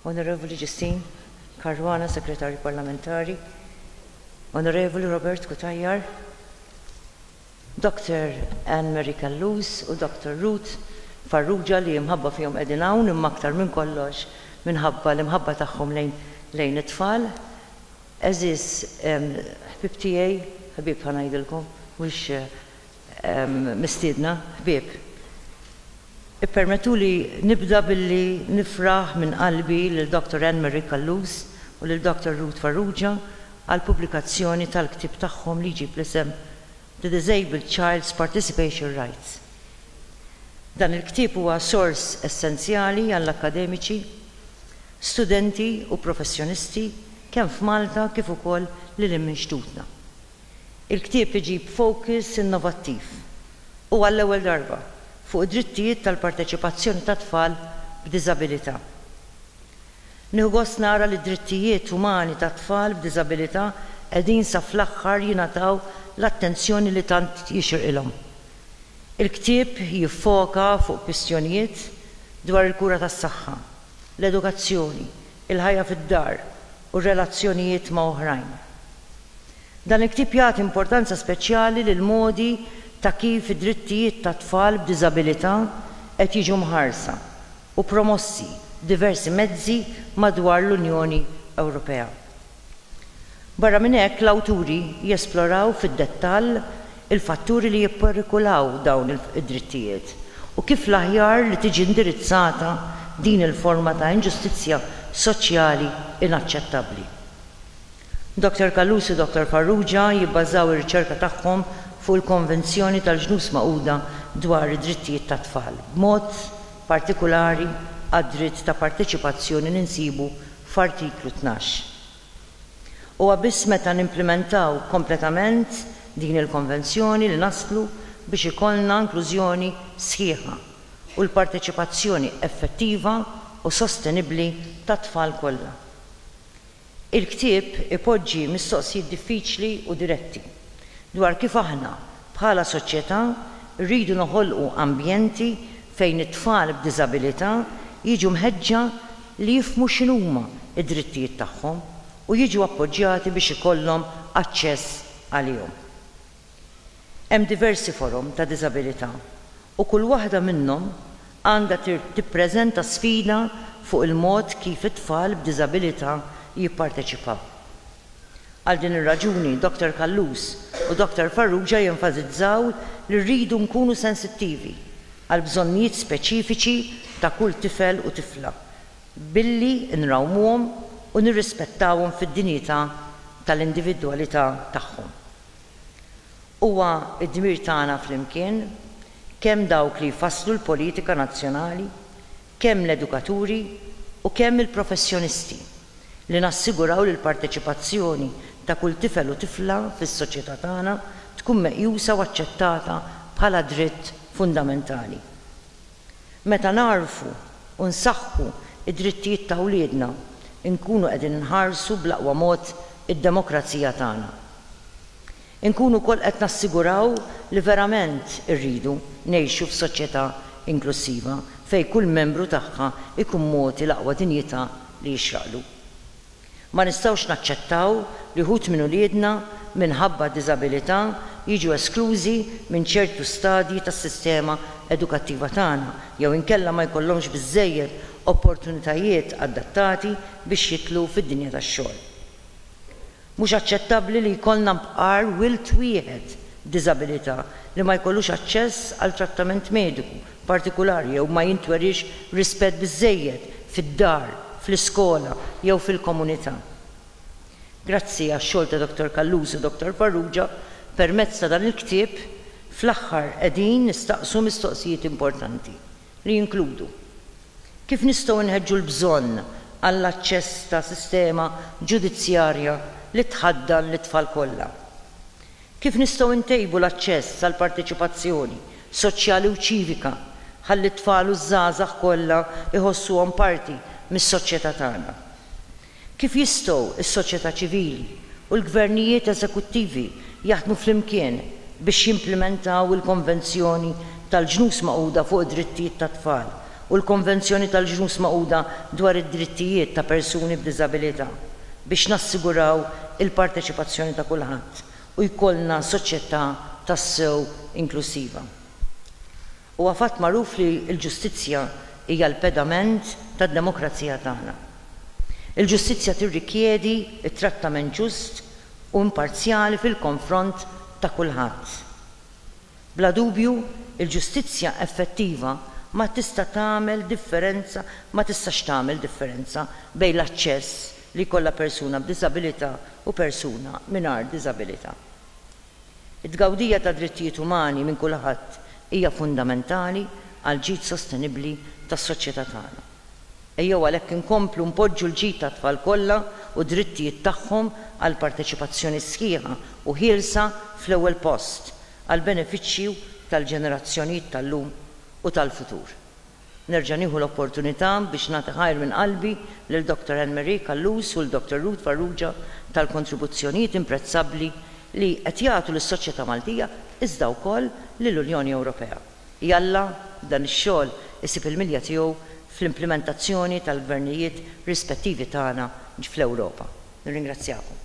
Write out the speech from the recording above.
Onorevoli Ġistin Caruana, Segretarju Parlamentari, Onorevoli Robert Cutajar, Dr. Anne Mary Callus u Dr. Ruth Farrugia li imħabba fihom qegħdin hawn imma aktar minn kollox minħabba l-imħabba tagħhom lejn lejn it-tfal. Għeżież ħbieb tiegħi, ħbieb ħa ngħidilkom, mhux Mistiedna, ħbieb, ippermettuli nibda billi nifraħ minn qalbi lil Dottor Ann Marie Callus u lil Dottor Ruth Farrugia għall-pubblikazzjoni tal-ktieb tagħhom li jġib l-isem The Disabled Child's Participation Rights. Dan il-ktieb huwa sors essenzjali għall-akkademiċi, studenti u professjonisti kemm f'Malta kif ukoll lil hinn minn xtutna. Il-ktieb iġib fokus innovattiv, u għall-ewwel darba, fuq id-drittijiet tal-parteċipazzjoni tat-tfal b'diżabilità. Nieħu gost nara li d-drittijiet umani tat-tfal b'diżabilità qegħdin sa fl-aħħar jingħataw l-attenzjoni li tant jixirqilhom. Il-ktieb jiffoka fuq kwistjonijiet dwar il-kura tas-saħħa, l-edukazzjoni, il-ħajja fid-dar, u r-relazzjonijiet ma' oħrajn. Dan il-ktieb jagħti importanza speċjali lill-modi ta' kif id-drittijiet tat-tfal b'diżabilità qed jiġu mħarsa u promossi b'diversi mezzi madwar l-Unjoni Ewropea. Barra minn hekk, l-awturi jesploraw fid-dettall il-fatturi li jipperikulaw dawn id-drittijiet u kif l-aħjar li tiġi indirizzata din il-forma ta' inġustizzja soċjali inaċċettabbli. Doctor Callus u Doctor Farrugia jibbażaw ir-riċerka tagħhom fuq il-Konvenzjoni tal-Ġnus Magħquda dwar id-Drittijiet tat-Tfal, b'mod partikulari għad-dritt ta' parteċipazzjoni li nsibu f'Artiklu Tnax. Huwa biss meta nimplimentaw kompletament din il-Konvenzjoni li naslu biex ikollna inklużjoni sħiħa u l-parteċipazzjoni effettiva u sostenibbli tat-tfal kollha. Il-ktieb ipoġġi mistoqsijiet diffiċli u diretti dwar kif aħna Bħala soċjetà, irridu noħolqu ambjenti fejn it-tfal b'diżabilità jiġu mħeġġa li jifhmu x'inhuma d-drittijiet tagħhom u jiġu appoġġjati biex ikollhom aċċess għalihom. Hemm diversi forom ta' diżabilità u kull waħda minnhom għandha tippreżenta sfida fuq il-mod kif it-tfal b'diżabilità jipparteċipaw. Għal din ir-raġuni, Dottor Callus u Dottor Farrugia jenfasizzaw li rridu nkunu sensittivi għall-bżonnijiet speċifiċi ta' kull tifel u tifla billi nrawmuhom u nirrispettawhom fid-dinjità tal-individwalità tagħhom. Huwa d-dmir tagħna flimkien, kemm dawk li jfasslu l-politika nazzjonali, kemm l-edukaturi u kemm il-professjonisti, li nassiguraw li l-parteċipazzjoni ta' kull tifel u tifla fis-soċjetà tagħna tkun meqjusa u aċċettata bħala dritt fundamentali. Meta nagħrfu u nsaħħu d-drittijiet ta' wliedna, inkunu qegħdin inħarsu bl-aqwa mod id-demokrazija tagħna. Inkunu wkoll qed nassiguraw li verament irridu ngħixu f'soċjetà inklussiva fejn kull membru tagħha jkun mogħti l-aqwa dinjità li jixraqlu. Ma nistgħux naċċettaw li wħud minn uliedna, minħabba diżabilità, jiġu esklużi minn ċertu stadji tas-sistema edukattiva tagħna jew inkella ma jkollhomx biżżejjed opportunitajiet adattati biex jidħlu fid-dinja tax-xogħol. Mhux aċċettabbli li jkollna bqar wild wieħed b'diżabilità li ma jkollux aċċess għal trattament mediku partikulari jew ma jintweriex rispett biżżejjed fid-dar, fl-iskola jew fil-komunità. Grazzi għax-xogħol ta' Dottor Callus u Dottor Farrugia, permezz ta' dan il-ktieb, fl-aħħar qegħdin nistaqsu mistoqsijiet importanti. li jinkludu kif nistgħu nħeġġu l-bżonn għall-aċċess ta' sistema ġudizzjarja li tħaddan lit-tfal kollha, kif nistgħu ntejbu l-aċċess għall-parteċipazzjoni soċjali u ċivika ħalli t-tfal u ż-żgħażagħ kollha jħossuhom parti mis-soċjetà tagħna. Kif jistgħu s-soċjetà ċivili u l-gvernijiet eżekuttivi jaħdmu flimkien biex jimplimentaw il-Konvenzjoni tal-Ġnus Magħquda fuq id-Drittijiet tat-Tfal u l-Konvenzjoni tal-Ġnus Magħquda dwar id-Drittijiet ta' Persuni b'Diżabilità biex nassiguraw il-parteċipazzjoni ta' kulħadd u jkollna soċjetà tassew inklussiva? Huwa fatt magħruf li l-ġustizzja hija l-pedament tad-demokrazija tagħna. Il-ġustizzja tirrikjedi t-trattament ġust u imparzjali fil-konfront ta' kulħadd. Bla dubju, il-ġustizzja effettiva ma tista' tagħmel differenza ma tistax tagħmel differenza bejn l-aċċess li jkollha persuna b'diżabilità u persuna mingħajr diżabilità. It-tgawdija tad-drittijiet umani minn kulħadd hija fundamentali għall-ġid sostenibbli tas-soċjetà tagħna. Ejjew għalhekk inkomplu npoġġu l-ġid tat-tfal kollha u d-drittijiet tagħhom għal parteċipazzjoni sħiħa u ħielsa fl-ewwel post, għall-benefiċċju tal-ġenerazzjonijiet tal-lum u tal-futur. Nerġa' nieħu l-opportunità biex nagħti ħajr minn qalbi lil Dottor Anne-Marie Callus u 'l Dottor Ruth Farrugia tal-kontribuzzjonijiet imprezzabbli li qed jagħtu lis-soċjetà Maltija iżda wkoll lill-Unjoni Ewropea. Jalla dan ix-xogħol isib il-milja tiegħu fl-implimentazzjoni tal-gvernijiet rispettivi tagħna fl-Ewropa. Nirringrazzjakom.